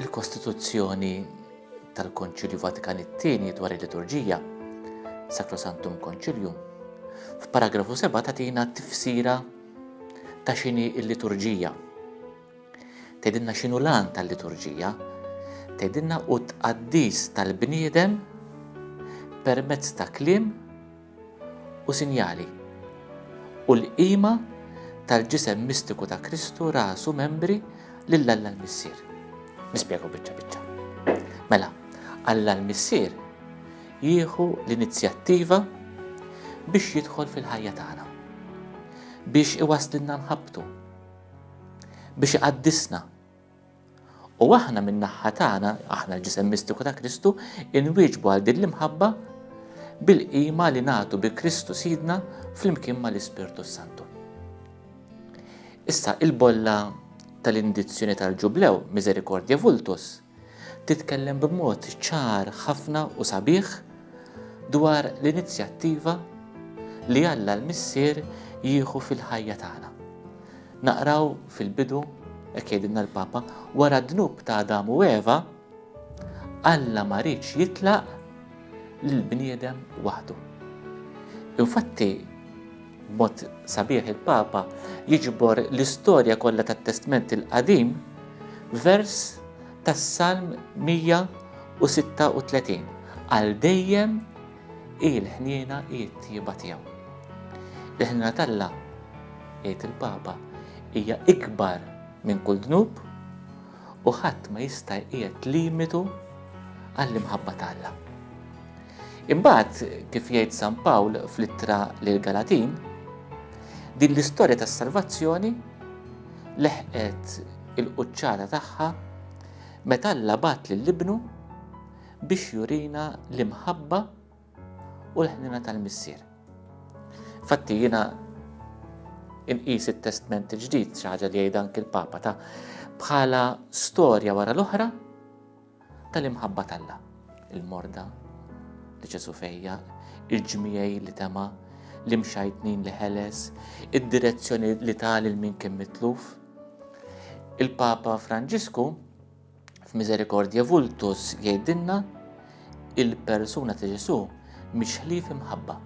il-Kostituzzjoni tal-Konċilju Vatikan it-tieni dwar il-liturġija, Sacrosantum Concilium, f'paragrafu 7 tatina tifsira ta' x'inhi l-liturġija. Tgħidilna x'inhu l-għan tal-liturġija, tgħidilna u tqaddis tal-bniedem permezz ta' kliem u sinjali. U l-qima tal-ġisem mistiku ta' Kristu rasu membri lil Alla l-Missier. Nispjegaw biċċa biċċa. Mela, Alla l-Missier jieħu l-inizjattiva biex jidħol fil-ħajja tagħna, biex iwaslilna nħabbtu, biex iqaddisna. U aħna min-naħħa tagħna, aħna l-ġisem mistiku ta' Kristu, inwieġbu għal din l-imħabba bil-qima li nagħtu bi Kristu sidna fl-imkien ma l-Ispirtu Santu. Issa il-bolla tal-indizzjoni tal-ġublew, miserikordja vultus, titkellem b'mod ċar ħafna u sabiħ dwar l-inizjattiva li Alla l-Missier jieħu fil-ħajja tagħna. Naqraw fil-bidu, hekk jgħidilna l-Papa, wara d-dnub ta' Adam u Eva, Alla ma rridx jitlaq lill-bniedem waħdu. Infatti, B'mod sabiħ il-Papa jiġbor l-istorja kollha tat-Testment il-Qadim vers tas-Salm 136 għal dejjem hi l-ħniena hi t-tjieba tiegħu. Il-ħniena t'Alla, jgħid il-Papa, hija ikbar minn kull dnub u ħadd ma jista' jqiegħed limitu għall-imħabba t'Alla. Imbagħad, kif jgħid San Pawl fl-ittra lill-Galatin, din l-istorja tas-salvazzjoni leħqet il-quċċata tagħha meta Alla bat lill-Ibnu biex jurina l-imħabba u l-ħnina tal-Missier. Fatti jiena inqis it-testment il-ġdid xi ħaġa li jgħid anki l-Papa ta' bħala storja wara l-oħra tal-imħabba t'Alla, il-morda li Ġesu fejja, il-ġmiegħi li tema, l-imxajtnin li ħeles, id-direzzjoni li ta' lil min kien mitluf. Il-Papa Franġisku f'Misericordie Vultus jgħidilna il-persuna ta' Ġesu mhix ħlief imħabba.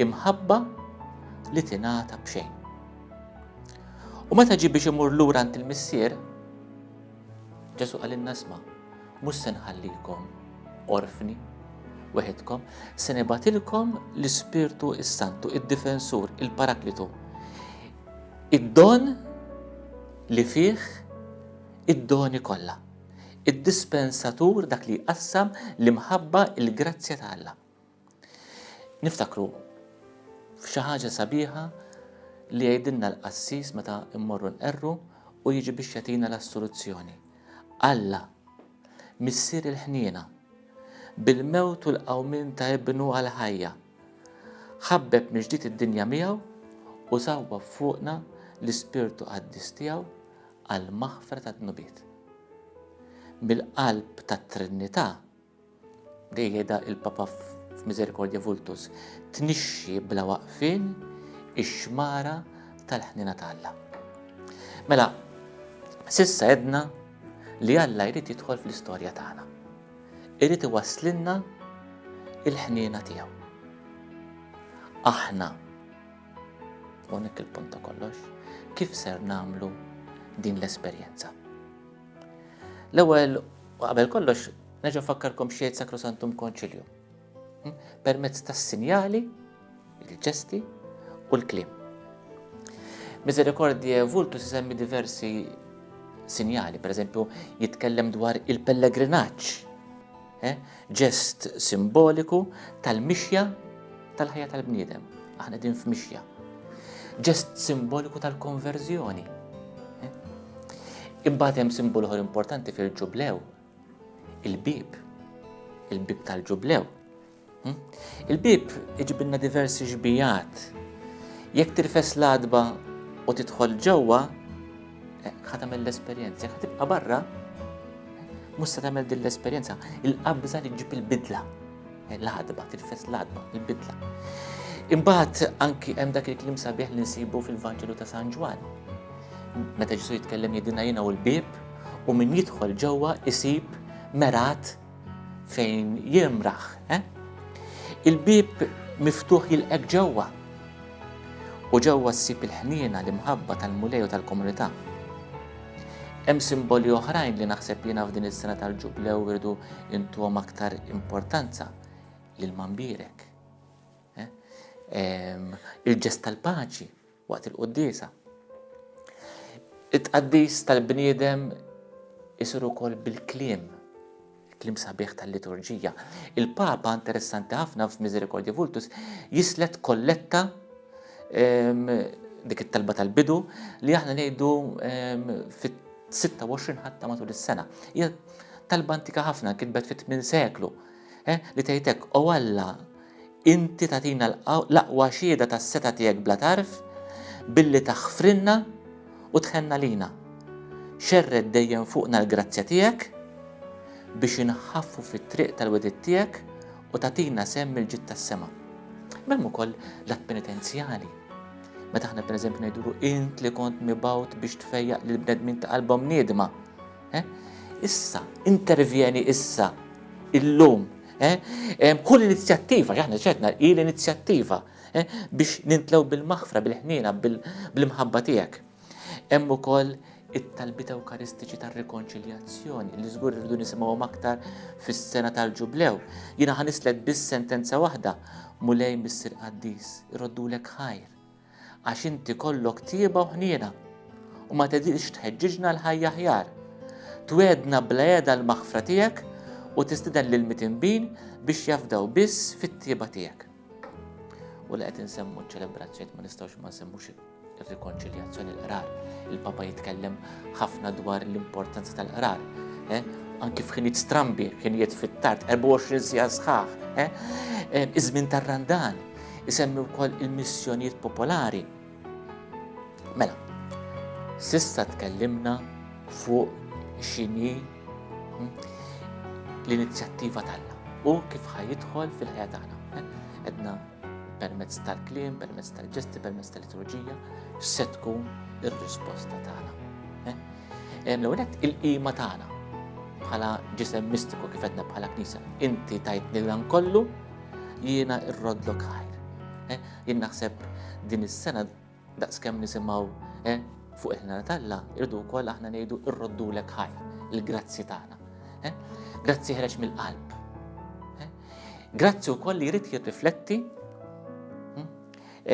Imħabba li tingħata b'xejn. U meta ġi biex imur lura għand il-missier, Ġesu qalilna sma, mhux se nħallikom orfni weħidkom, se nibatilkom l-Ispirtu s-Santu, id-difensur, il-paraklitu. Id-don li fih id-doni kollha. Id-dispensatur dak li jqassam l-imħabba il-grazzja ta' Alla. Niftakru f'xi ħaġa sabiħa li jgħidilna l-qassis meta mmorru nqerru u jiġi biex jagħtina l-assoluzzjoni. Alla, missier il-ħniena, bil-mewt u l-qawmin ta' ibnu għal-ħajja, ħabbeb miġdid id-dinja miegħu u sawwa fuqna l-ispirtu qaddis tiegħu għal maħfra ta' dnubiet. Mill-qalb tat-Trinità Dejjeda il-Papa f'Misericordie Vultus, tnixxi bla waqfien ix-xmara tal-ħniena ta' Alla. Mela, sissa edna li Alla jrid jidħol fl-istorja tagħna. Irid iwasslilna il-ħniena tiegħu. Aħna unik il-punt ta' kollox, kif ser namlu din l-esperjenza? L-ewwel u qabel kollox nerġa' nfakkarkom xejn Sacrosantum Concilium. Hm? Permezz tas-sinjali, il-ġesti u l-kliem. Misericordie Vultus isemmi diversi sinjali, per eżempju, jitkellem dwar il-pellegrinaġġ Ġest simboliku tal-mixja tal-ħajja tal-bniedem. Aħna din f'mixja. Ġest simboliku tal-konverżjoni. Imbagħad hemm simbol oħra importanti fil-ġublew, il-bib, il-bib tal-ġublew, Il-bieb iġibilna diversi xbijat. Jekk tirfes l-għadba u tidħol ġewwa, eh, ħatamel l-esperjenza. Jekk tibqa' barra, mhux se tagħmel din l-esperjenza. Il-qabża li ġib il-bidla. Eh, l-għadba, tirfes l-għadba, il-bidla. Imbagħad anki hemm dak il-klim sabiħ li nsibu fil-Vanġelu ta' San Ġwan. Meta Ġesu jitkellem jidina jiena u l-bib, u min jidħol ġewwa isib merat fejn jimraħ, eh? Il-bieb miftuħ jilqek ġewwa. U ġewwa ssib il-ħniena l-imħabba tal-Mulej u tal-komunità. Hemm simboli oħrajn li naħseb jiena f'din is-sena tal-ġublew irdu intuhom aktar importanza lil mambirek. Eh? Il-ġest tal-paċi, waqt il-quddiesa. It-tqaddis tal-bniedem isir ukoll bil-kliem, kliem sabiħ tal-liturġija. Il-Papa, interessanti ħafna f'Misericordie Vultus, jislet kolletta ehm, dik it-talba tal-bidu li aħna ngħidu ehm, fit-26 ħatta matul is-sena. Hija talba antika ħafna kitbet fit-8 seklu eh, li tgħidek o Alla Inti tagħtina l-aqwa xhieda tas-setgħa tiegħek bla tarf billi taħfrilna u tħenn għalina. Xerred dejjem fuqna l-grazzja tiegħek biex inħaffu fit-triq tal-wegħdiet tiegħek u tagħtina sehem mill-ġid tas-sema. M'hemm ukoll l-att penitenzjali. Meta aħna pereżempju ngħidulu int li kont mibgħut biex tfejjaq lill-bnedmin ta' qalbhom niedma, Issa, intervjeni issa, illum. Kull inizjattiva, ġaħna ċedna, hi l-inizjattiva biex nintlew bil-maħfra, bil-ħnina, bil-mħabba tiegħek. Hemm ukoll it-talbit Ewkaristiċi tar-rikonċiljazzjoni li żgur irridu nisimgħu aktar fis-sena tal-Ġublew. Jiena ħanislek biss sentenza waħda, Mulej Missier Qaddis, iroddulek ħajr. Għax int ikollok tieba u ħniena, u ma tedilx tħeġġiġna l-ħajja aħjar. Twiegħdna bla heda l-maħfra tiegħek u tistieden lill-mitinbin biex jafdaw biss fit-tieba tiegħek. U li qed insemmu ċ-ċelebrazzjonijiet ma nistgħux ma nsemmux ir-rikonċiljazzjoni l-qrar. Il-Papa jitkellem ħafna dwar l-importanza tal-qrar. Eh? anki f'ħinijiet strambi, ħinijiet fit-tard, 24 sija sħaħ, eh? eh, iż-żmien tar-randan. isemmi wkoll il-missjonijiet popolari. Mela, sissa tkellimna fuq xini hm, l-inizjattiva tagħna u kif ħajidħol fil-ħajja tagħna. Edna permezz tal-klim, permezz tal-ġesti, permezz tal-liturġija, se tkun ir-risposta tagħna. Eh, l-għonet il-qima tagħna bħala ġisem mistiku kif edna bħala knisja. Inti tajtni l kollu, Jiena irroddlok ħajr. Eh, jien naħseb din is-sena daqskemm nisimgħu eh, fuq il-ħna tal-la, irdu wkoll aħna ngħidu irroddulek ħajr, il-grazzi tagħna. Eh, grazzi ħreġ mill-qalb. Grazzi wkoll li jrid jirrifletti hmm,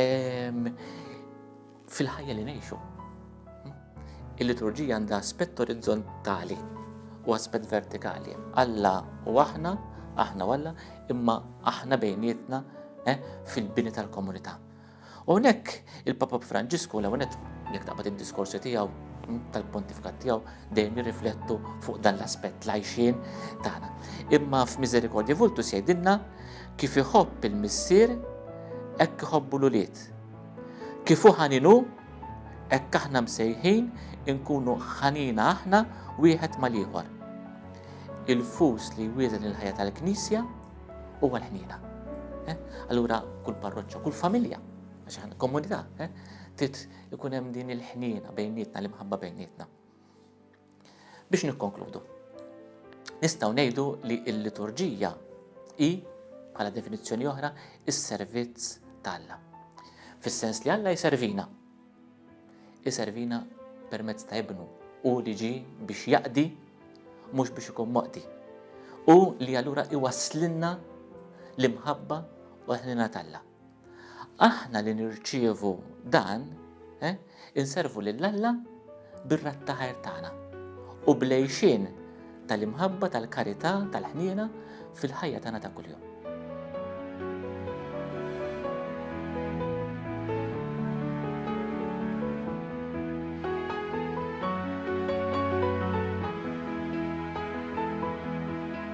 ehm, fil-ħajja li ngħixu. Il-liturġija għandha aspett orizzontali u aspett vertikali. Alla u aħna, aħna u Alla, imma aħna bejnietna eh, fil-bini tal-komunità. U nek il-Papa Franġisku l għonet jek taqbad il-diskorsi tijaw hm, tal-pontifikat tijaw dejjem jirriflettu fuq dan l-aspett lajxin tagħna. Imma f'Misericordja Vultu sejdinna kif iħobb il-missier hekk iħobbu l-ulied. Kif hu ħanin hu, hekk aħna msejħin inkunu ħanina aħna wieħed mal-ieħor. Il-fus li jwieżen il-ħajja tal-Knisja huwa l-ħniena. Eh? Allura kull parroċċa, kull familja, għax komunità, eh? trid ikun hemm din il-ħniena bejnietna, l-imħabba bejnietna. Biex nikkonkludu, nistgħu ngħidu li l-liturġija hi bħala definizzjoni oħra is-servizz ta' Alla. Fis-sens li Alla jservina. Jservina permezz ta' ibnu u li ġi biex jaqdi mhux biex ikun moqdi. U li allura iwaslinna l-imħabba u l-ħnina t'Alla. Aħna li nirċievu dan, eh, inservu lil Alla bir-rat ta' ħajr tagħna u blejxin tal-imħabba, tal-karità, tal-ħniena fil-ħajja tagħna ta' kuljum.